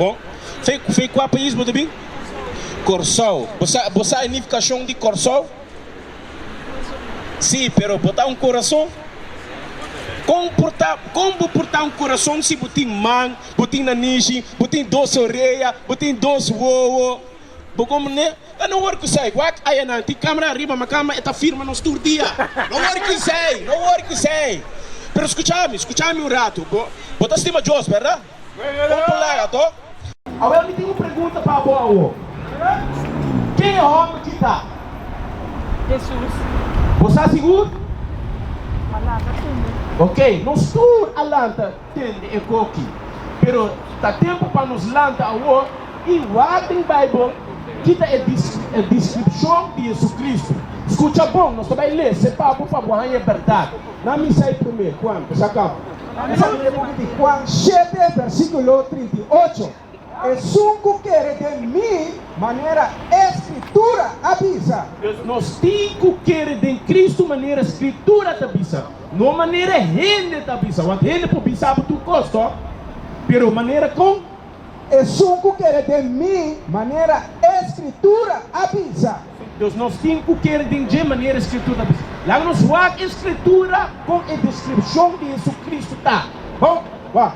Bon, fe kua pais bo ta bin? Kòrsou. Bo sa bo sa e nifikashon di Kòrsou? Sí, pero bo ta un kurason? Kon por ta kon bo por ta un kurason si bo tin man, bo tin nanishi, bo tin dos orea, bo tin dos wowo? Bo komprende? Lo no wòrdu kusai, wak aya nan tin kamera ariba mi kama e ta firma nos tur dia. No wòrdu kusai, no wòrdu kusai. Pero skucha mi, skucha mi un ratu, bo bo ta stima Dios, bèrda? Bo por laga to. Awor mi tin un pregunta pa bo awor. Ken e homber ki ta? Jesus. Bo sa sigur? A lanta tende. Ok, nos tur a lanta tende e koki. Pero ta tempo pa nos lanta awor y wak den Bijbel kita e discripcion di Jesucristo. Scucha bon, nos ta bay lese pa bo pa bo haña e berdad. Nan misa e primer, cuanto? Sa cabo. Analiza e buki di Huan shete versikulo trinta i ocho. Esun ku kere den mi, manera e Skritura a bisa. Pues nos tin ku kere den Kristu manera Skritura ta bisa, no manera hende ta bisa, want hende por bisa bo tur kos, to? Pero manera kon? Esun ku kere den mi, manera e Skritura a bisa. Dos nos tin ku kere den dje, manera e Skritura a bisa. Laga nos wak e Skritura kon e deskripshon di JesuCristo ta. Bon, wak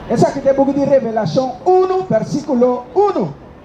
esaki ta e buki di Revelashon unu, vèrsikulo unu.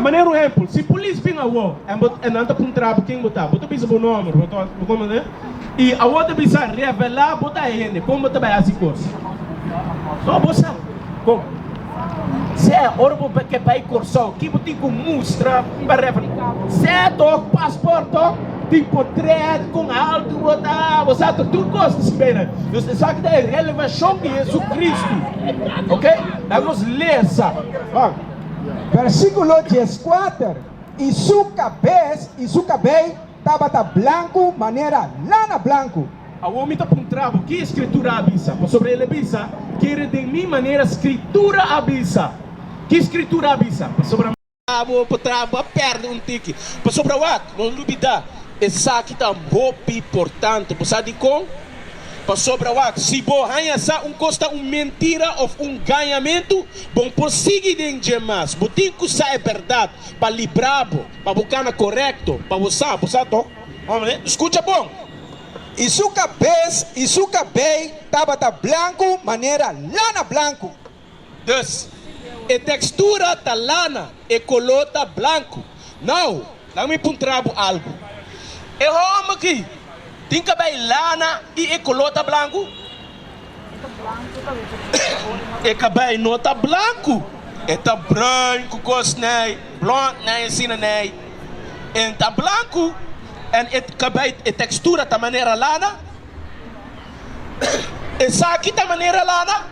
Manera un ehempel, si polis bin awó en bo e nan ta puntra bo ken bo ta, bo ta bisa bo nòmber, bo ta bo konde, i awó ta bisa revelá bo ta e hende kon bo ta bai hasi kos. Nò bo sa kon sè ora bo ke bai Kòrsou, ki bo tin ku mustra pa revelá bo sè tok paspòrt tok tin potrèt kon ha altu bo ta, bo sa ta tur kos ta skibé nan. Nos ta sa ki ta e relevashon di Hesu Kristu. Oke, laga nos lesa. Versíkulo dieskuater, I su kabes i su kabei tabata blanku manera lana blanku. Awor mi ta puntra bo, Ki e Skritura a bisa? Pasobra el a bisa, Kere den mi manera Skritura a bisa. Ki Skritura a bisa? Pasobra. Abo pa traba, bo a pèrdè un tiki. Pasobra wak? Nos lubidá, esaki ta hopi portante. Bo sa dikon? Pasobra wak, si bo haña sa un kos ta un mentira òf un gañamentu, bo por sigui den dje mas. Bo tin ku sa e bèrdat pa libra bo, pa bo kana korekto, pa bo sa. Bo sa to? Hombre, skucha bon! I su kabes i su kabei tabata blanku manera lana blanku. Dus, e tekstura ta lana, e koló ta blanku. Nau, laga mi puntra bo algu. E hòmber ki tin kabei lana i e koló ta blanku? E kabei no ta blanku. E ta bruin ku kos nei, blond nei asina nei. E no ta blanku. En e kabei e tekstura ta manera lana. Esaki ta manera lana.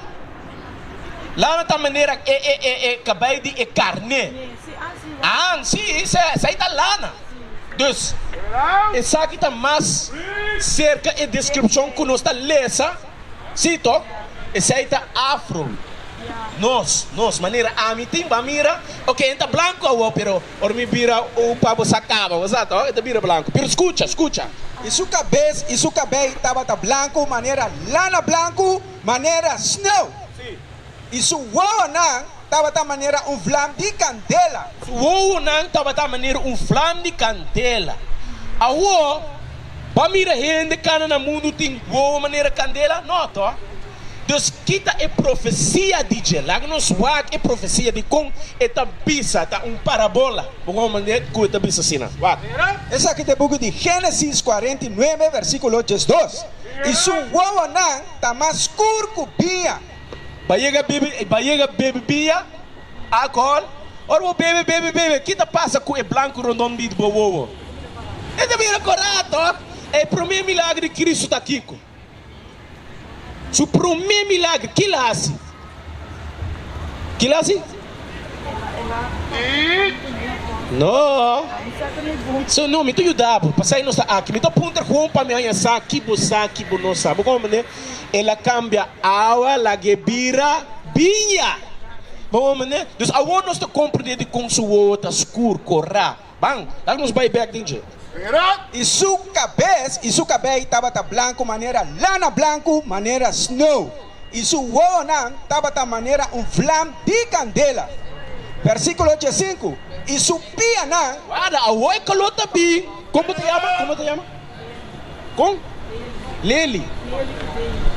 Lana ta manera e kabei di e karné. Ahan, sí, esei ta lana. Dus, esaki ta mas serka e deskripshon ku nos ta lesa, sí to? Esei ta afro. Nos, nos, manera ami tin, bo a mira, oke, en ta blanku awor, pero. Ora mi bira un pa bo sa caba, bo sa to? E ta bira blanco. Pero scucha, scucha. I su cabez i su cabey tabata blanco manera lana, blanco manera sneeuw. Si. I su wowonan tabata manera un vlam di candela. Su wowonan tabata manera un vlam di candela. Awor, bo a mira hende cana na mundu tin wowo manera candela? No to. Dios kita e profecia di dje. Laga nos wak e profecia di con e ta bisa, ta un parabola. Bo wou manera cu e ta bisa asina? Wak. Esaki ta e buki di Genesis cuarenta y nuebe versiculo diesdos, I su wowonan ta mas scur cu biña. Bo yega bebe, bo yega bebe biña, alcohol. Ora bo bebe, bebe, bebe, ki ta pasa cu e blanco rondon di bo wowo? E ta bira corat, tok. E prome milagro di Cristo ta kico? Su promé milagre, ki el a hasi? Ki el a hasi? No. So, no, mi ta yuda bo. Pasai nos ta aki. Mi ta puntra kon pa mi haña sa ki bo sa ki bo no sa. Bo comprende? El a kambia awa lag'é bira biña. Bo comprende? Dus awor nos ta comprende dikon su wowo ta skur, korá. Ban, tal nos bai bek den dje. I su kabes i su kabei tabata blanku manera lana, blanku manera snou, i su wowonan tabata manera un vlam di kandela. Versíkulo diesinku, I su pianan. Wada, awor e kaló ta bin. Komo ta yama? Komo ta yama? Kon? Leli,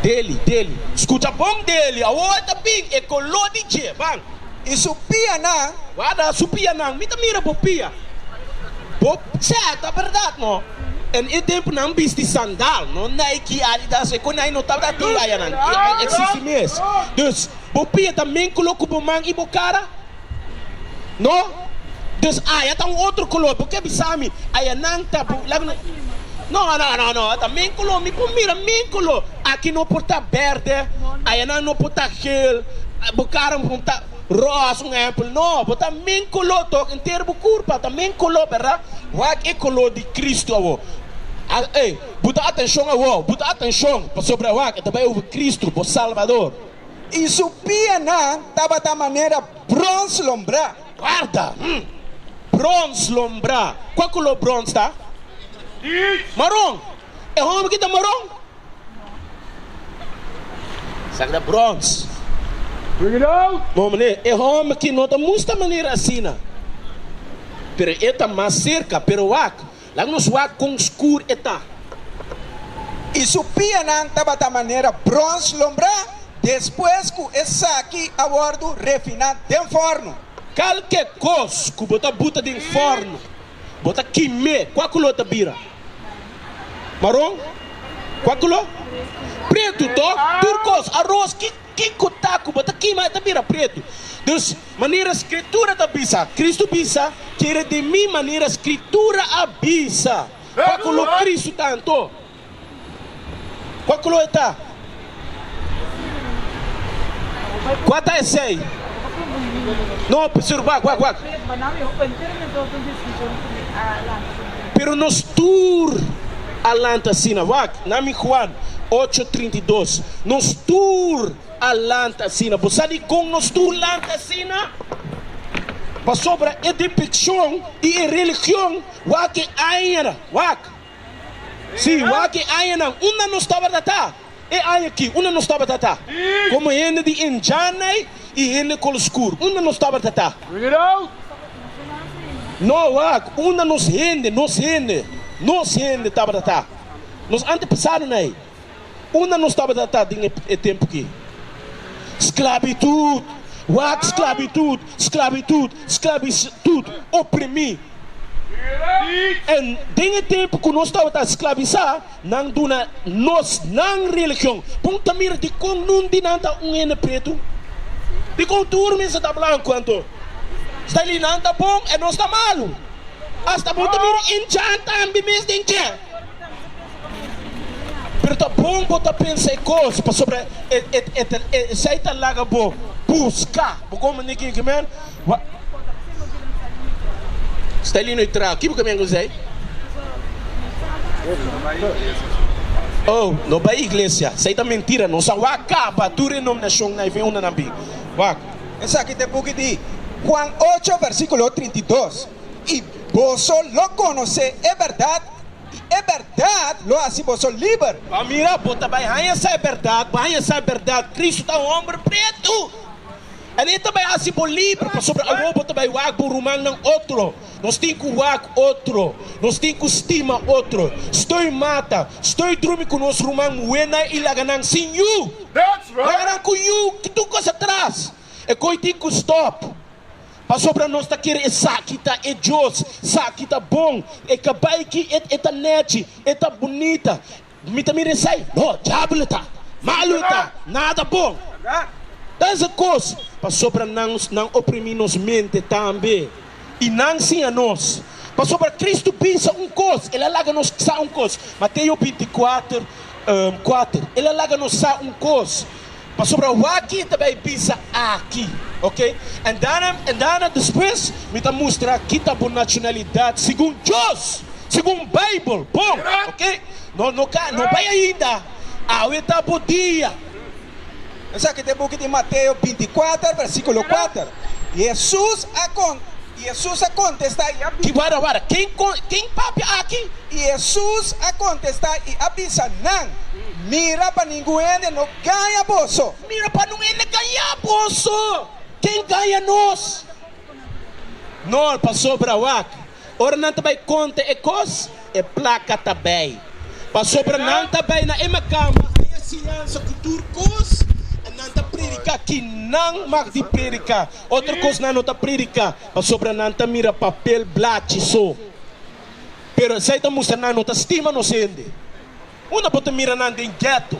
Deli, Deli. Skucha bon Deli, awor ta bin e koló di dje, ban. I su pianan? Warda su pianan, mi ta mira bo pia. Bo sèta bèrdat, no? En e tempunan bisti sandal, no Nike, Adidas, e konai no tabata tin layanan, e eksisti mes. Dus, bo pia ta mingkolo ku bo man i bo kara? No, dus aya ta un otro color, bo ke bisa mi aya nan ta bu, labi no, no, no, no, no, ta men color, mi por mira men color, aki no por ta berde, aya nan no por ta geel, bo cara por ta roos, un ehempel, no, bo ta men color tok, enter bo curpa ta men color, berda? Wak e color di Cristo awo, a, ey, buta atencion awo, buta atencion, pasobra wak e ta bay over Cristo, bo Salvador. i su pianan tabata manera brons lombrá. Guarda! Hm! Brons lombrá? Kua kuló brons ta? Teach! Maron! E homber ki ta maron? Sa ke ta brons. Bring it out! Bon mane, e homber ki no ta musta manera asina, pero e ta mas serka. Pero wak, Laga nos wak kon skur e ta. I su pianan tabata manera brons lombrá, despues ku esaki a wòrdu refiná den fòrnu. Kalke kos ku bo ta buta den fòrnu, bo ta kim'é. Kua kuló ta bira? Maron? Kua kuló? Pretu. Tò, tur kos. Aros, ki ku ta ku bo ta kima, e ta bira pretu. Dus, Manera Skritura ta bisa, Kristu bisa, ke redimí manera Skritura a bisa. Kua ku lo Kristu ta anto? Kua ku lo e ta? Kua ta esei? No obserba wak wak. Pero nos tur a lanta asina. Wak, nan mi Juan ocho trinta i dos. Nos tur. a lanta asina. Bo sa dikon nos tur lanta asina? Pasobra e depekshon di e religion wak e añanan, wak, sí, wak e añanan unda nos tabata ta, e aña aki unda nos tabata ta komo hende di enjanai i hende kolo skur, unda nos tabata ta? No, wak, unda nos hende, nos hende, nos hende tabata ta. Nos ante pasado na ei. Unda nos tabata ta den e tempu ki? Sklabitut! Wak sklabitut! Sklabitut! Sklabitut! Oprimí! En den e tempu ku nos tabata sklabisá, nan duna nos nan religion. Bon ta mira dikon nun di nan ta un hende pretu. Dikon tur mester ta blanku anto? Sta li nan ta bon e nos ta malu? Asta bon ta mira Injan tambe mes den kè? Pero ta bon bo ta pensa e kos pasobra esei ta laga bo buska bo kon manera di kende mer. Stelino i traha ki bo kaminda ku esei? Oh, no bai iglesia. Esei ta mentira. Nos a wak kaba tur renominashon na i bin unda nan bin. Wak. Esaki ta e buki di Huan ocho, versíkulo trinta i dos. i boso lo konosé e bèrdat, i e bèrdat lo hasi boso liber. Bo mira, bo ta bai haña sa e bèrdat, bo haña sa e bèrdat, Kristu ta un hòmber pretu. El ei ta bai hasi bo liber, pasobra awor bo ta bai wak bo rumannan otro. Nos tin ku wak otro, nos tin ku stima otro. Stoi mata, stoi drumi ku nos ruman muhénan i laga nan sin yu, laga nan ku yu, ki tur kos atras. E goi tin ku stòp. Pasobra nos ta kere esaki ta e Dios, saki ta bon, e kabai ki e e ta neci, e ta bunita. Mi ta mira esai, no, diabel e ta, malu e ta, nada bon. Ta esa cos pasobra nan nan oprimi nos mente tambe, y nan siña nos. Pasobra Cristo bisa un cos, el a laga nos sa un cos, Mateo binti kuater, kuater, el a laga nos sa un cos. Pasobra waki ta bay bisa aki, ok? En daarna, en daarna despues mi ta mustra kita bo nacionalidad segun Dios, segun Bijbel, bon, ok? No, no ka, no bay ainda, awe ta bo dia. Esaki ta e buki di Mateo binti kuater, versikulo kuater. Jesús a. I Hesus a kontestá i a bisa. Di wara wara, ken kon, ken papia aki? I Hesus a kontestá i a bisa nan, Mira pa ningun hende no gaña boso. Mira pa nun hende gañá boso. Ken gaña nos? Nol, pasobra wak, ora nan ta bai konta e kos, E plaka ta bay. Pasobra nan ta bay na e makan. Pa haya enseñansa ku tur kos, e nan ta prediká ki nan mag di prediká. Otro kos nan no ta prediká, pasobra nan ta mira papel blachi so. Pero esei ta mustra nan no ta stima nos hende. Unda bo ta mira nan den ghetto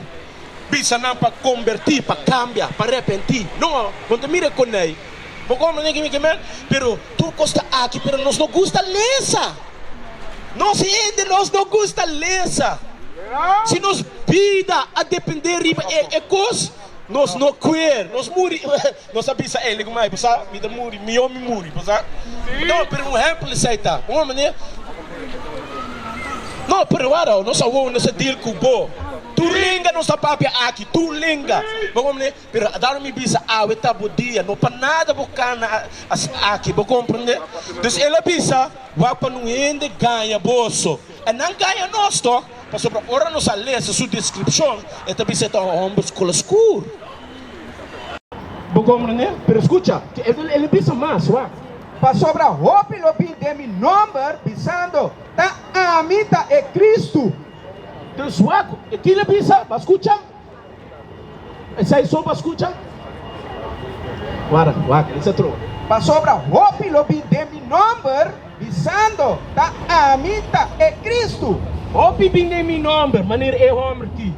bisa nan pa comberti, pa cambia, pa repenti? No, bo ta mira e coney. Bo comprende kico mi ke men? Pero tur cos ta aki pero nos no gusta lesa. Nos hende nos no gusta lesa. Si nos bida a depende riba e cos nos no quer, nos muri. Nos a bisa Eli kuma, I por sa mi ta muri, mihó mi muri, pasobra mi ta un ompere. Un ehèmpel di esei ta un omi nan a prueba awo. Nos a wou, nos a dil ku bo tur lenga, nos a papia aki tur lenga. Bo bon mane, pero a dado mi bisa, Awe ta bo dia, no pa nada bo kana aki. Bo komprende? Entonces Eli a bisa, Wak pa un hende gaña boso. E nan gaña nos to, pasobra ora nos a lesa su deskripshon, e ta bisa e ta un hòmber skola skur. Bo komprendé? Pero skucha ke e el a bisa mas, wak. Pasobra hopi lo bin den mi nòmber, bisando, Ta ami ta e Kristu. Dus wak, e kila bisa, bo a skucha? Pasobra hopi lo bin den mi nòmber, bisando, Ta ami ta e Kristu. Hopi bin den mi nòmber, manera e hòmber ki,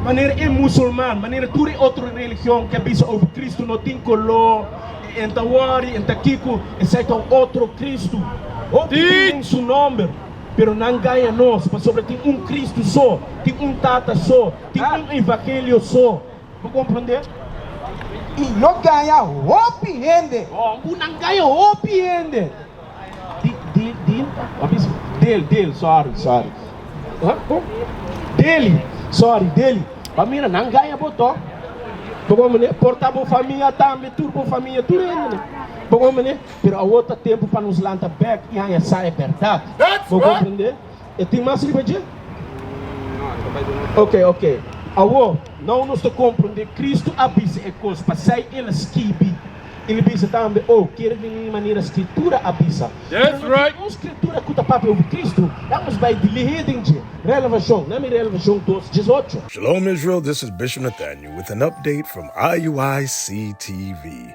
manera e musulman, manera tur e otro religion ke bisa over Kristu no tin koló, e enta wòri, e enta kiko, esei ta un otro Kristu. Hopi bin den su nòmber, Pero nan gaña nos, pasobra tin un Kristu so, tin un Tata so, tin un evangelio so. Bo komprondé? I lo gaña hopi hende. Bo nan gaña hopi hende. Di, di, di, a bis, del, del, sorry, sorry. Huh? Bo, deli, sorry, deli. Bo mira, nan gaña bo to. Bo komprendé? Por ta bo famia tambe, tur bo famia, tur hende nan. Bo komprendé? pero awor ta tempu pa nos lanta bek i haña sa e bèrdat. Bo komprendé? E tin mas riba dje? Oke, oke. Awor, nau nos ta komprendé. Kristu a bisa e kos pasai el a skibi. El a bisa tambe, O kere vini di manera Skritura a bisa. Pero no tin un Skritura ku ta papia over Kristu. Ya nos bai di lihé den dje. Relevashon, na mi Relevashon dos, djes ocho. Shalom Israel, this is Bishop Nathaniel with an update from IUIC TV.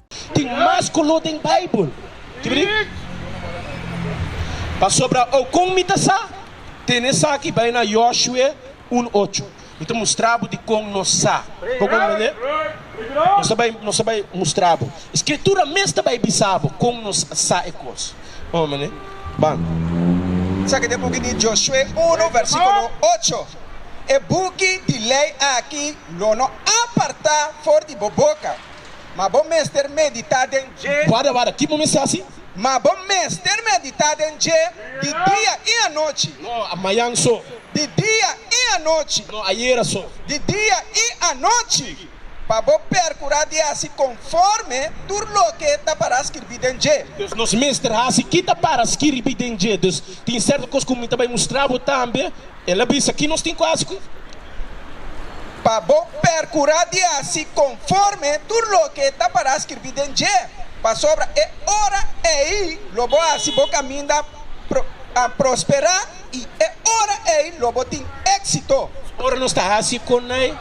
Tin mas color den Bijbel. Pasobra o con mi ta sa, tene esaki bay na Joshue uno ocho. Mi ta mustra bo di con nos sa. Con un mane? Nos ta bay mustra bo. E Scritura mes ta bay bisa bo con nos sa e cos. Con un mane? Band. Esaki ta e buki di Joshue uno versiculo ocho. E buki di ley aki lo no aparta for di bo boca. Ma bo mester meditá den dje. Warda, warda, ki bo mester hasi? Ma bo mester meditá den dje, di dia i anochi. No, mañan so. Di dia i anochi. No, ayera so. Di dia i anochi, pa bo perkurá di hasi konforme tur loke ta pará skirbí den dje. Dus, nos mester hasi ki ta pará skirbí den dje. Dus, tin sèrto kos ku mi ta bai mustrá bo tambe. El a bisa, Ki nos tin ku hasi ku i? Pa bo perkurá di hasi konforme tur loke e tabará skirbí den dje, pasobra e ora ei lo bo hasi bo kaminda a prosperá i e ora ei lo bo tin éksito. Ora nos ta hasi konai,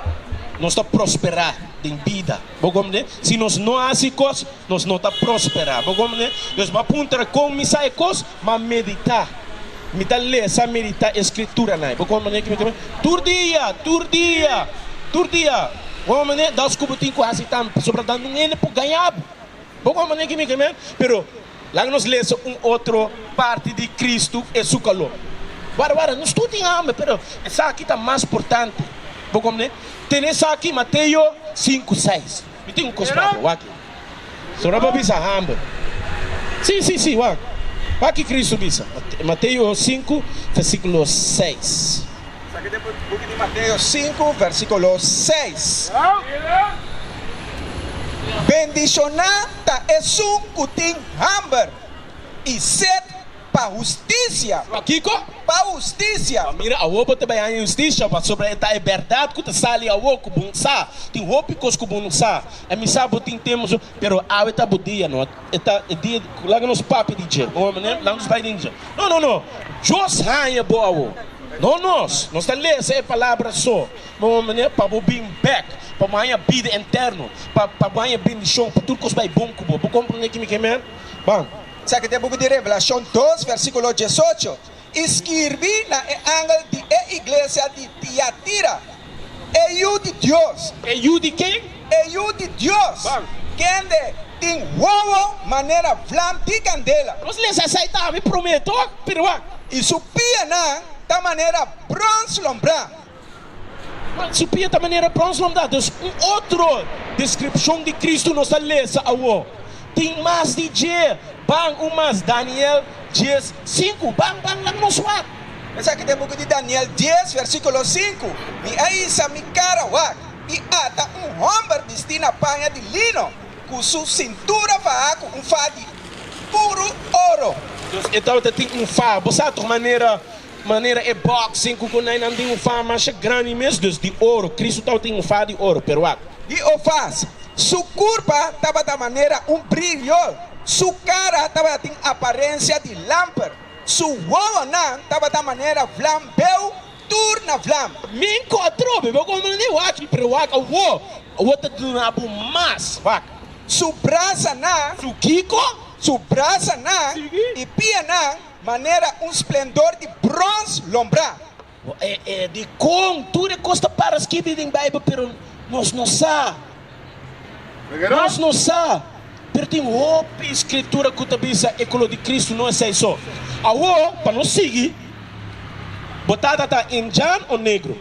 nos ta prosperá den bida. Bo kòmprende? Si nos no hasi kos, nos no ta prosperá. Bo kòmprende? Dios bo a puntra, Kon mi sa e kos? M'a meditá, mi ta lesa meditá e Skrituranan. E por kon manera ku mi ta mira tur dia, tur dia, tur dia. Kon manera dos ku bo tin ku hasi tambe pasobra bo ta dando un hende por gañá bo. Bo kon manera ku mi ta mira. Pero laga nos lesa un otro parti di Kristu, e su kalor. Wada wada, nos tur tin hamber, pero esaki ta mas portante. Bo kon manera? Tene esaki, Mateo sinku seis. Mi tin un cos pa bo, wak e. So nan pa bisa hamber. Si, si, si, wak. Wak ki Cristo bisa. Mateo sinku, versiculo seis. Saca den buki di Mateo sinku, versiculo seis. Bendicioná ta esun cu tin hamber i set Pa husticia! Pa kico? Pa husticia! Pa mira, awo bo ta bay haña husticia, pasobra e ta e berdad cu ta sali awo, cu bo no sa. Tin hopi cos cu bo no sa. A mi sa bo tin temor, so, pero awe ta bo dia, no? E ta e dia di, laga nos papia di dje, bo mane, laga nos bay den dje. No, no, no! Dios haña bo awo, no nos. Nos ta lesa e palabra so, bo mane, pa bo bin bek, pa bo haña bida enterno, pa, pa bo haña bendicion, pa tur cos bay bon cu bo. Bo comprende kimi ke, amen? Bon. Esaki ta e buki di Revelashon dos, vèrsikulo diesocho, i skirbi na e angel di e iglesia di Tiatira, E Yu di Dios. E Yu di ken? E Yu di Dios, kende tin wowo manera vlam di kandela. Nos lesa esei ta ami promé tok, pero wak. I su pianan ta manera brons lombrá. Su pia ta manera brons mamdad. Nos un otro descripcion di Cristo nos ta lesa awo. Tin mas di dje ban un mas, Daniel dies sinku. Ban ban lak nos wak. Esaki ta e buki di Daniel dies versiculo sinku, Mi a isa mi cara wak, i ata un homber bisti na paña di lino, cu su cintura faha cu un fa di puru oro. Entonces e tabata tin un fa. Bo sa toch manera. Manera e bòksing ku konainan tin un fama masha grandi mes, dus di oru. Kristu tabata tin un fas di oru, pero wak. Di un fas. Su kurpa tabata manera un brilio, su kara tabata tin aparensia di lamper, su wowonan tabata manera vlam beu tur na vlam. Mi enkontr'o, bebeu ku manera e waki, pero wak, awo, awo ta duna bo mas, wak. Su brasanan. Su kiko? Su brasanan i pianan Manera un splendor di brons lombrá. Dikon tur e kos ta para skibi den Beibel, pero nos no sa. Nos no sa, pero tin hopi Skritura ku ta bisa e koló di Kristu no esei so. Awor, pa no sigui, bo tata ta Indian o Negro?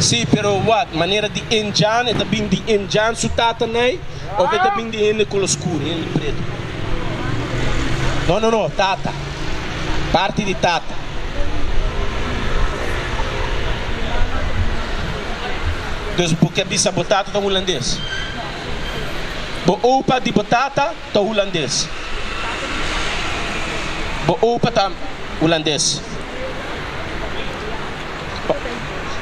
Sí, pero wak, manera di en Jan, e ta bin di en Jan su tatanay of e ta bin di hende kolo skur, hende pretu? No, no, no, tata, parti di tata. Entonces bo ke bisa bo tata ta hulandes? Bo opa di bo tata? ta hulandes. Bo opa ta hulandes.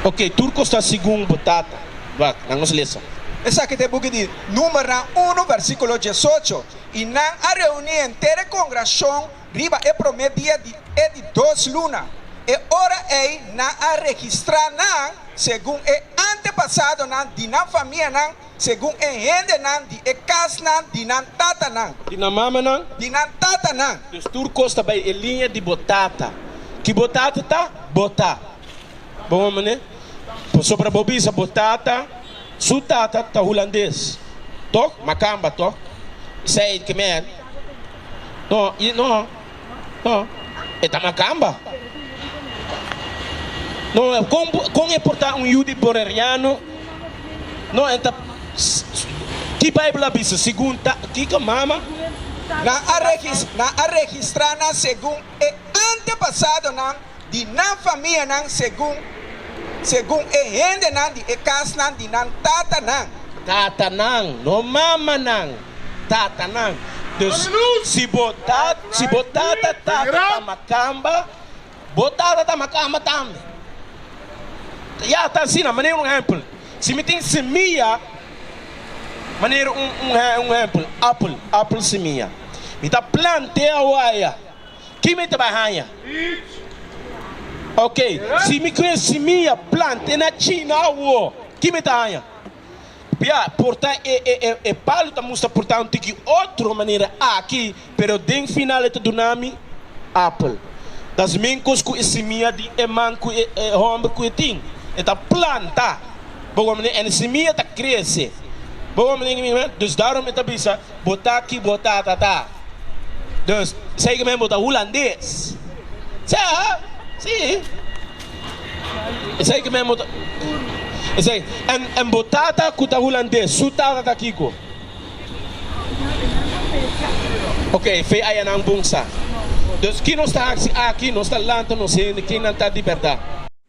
Ok, tur kos ta segun bo tata. Wak, nan nos lesa. Esaki ta e buki di Númeronan unu, versíkulo diesocho, I nan a reuní henter e kongrashon riba e promé dia di e di dos luna. E ora ei nan a registrá nan segun e antepasadonan di nan famianan, Segun e hendenan di e kasnan di nan tatanan. Di nan mamanan. Di nan tatanan. Pues tur kos ta bai e liña di bo tata. Ki bo tata ta, bo ta. Bo mama ne? Pasobra bo bisa bo tata su tata ta hulandes, tok? Makamba, tok? Said Khmer, No, i no. No, e ta macamba. No, con con e por ta un yu di boreriano? No, e ta ki Bijbel a bisa segun ta kiko mama? Nan a regis nan a registra nan segun e antepasadonan di nan famianan segun segun e hendenan di e casnan di nan tatanan. Tatanan, no mamanan. tatanan. Dus, si bo tat, si bo tata, tata ta makamba, bo tata ta makamba tambe. Ya, ta asina, manera un ehempel, si mi tin semia, manera un, un, un ehempel, apel, apel semia, mi ta plant'e awaya, ki mi ta bai haña? Oke, si mi ku e semia plant'e na China awor, ki mi ta haña? Bia, porta e palu ta musta porta un tiki otro manera aki, pero den final e ta duna mi apel. Ta es mingkos ku e simia di e man ku e hòmber ku e tin. E ta planta, bo wak manera e na simia ta krese, bo wak manera, dus daarom e ta bisa. bo ta ki bo tata ta. Dus, segimen bo ta hulandes. Sea, si. Esei ki men bo ta. Esei, en, en bo tata ku ta hulandes, su tata ta kiko? Ok, fe aya nan bungsa. Dus, ki nos ta hasi aki? Nos ta lanta nos hende, kin nan ta di bèrdat?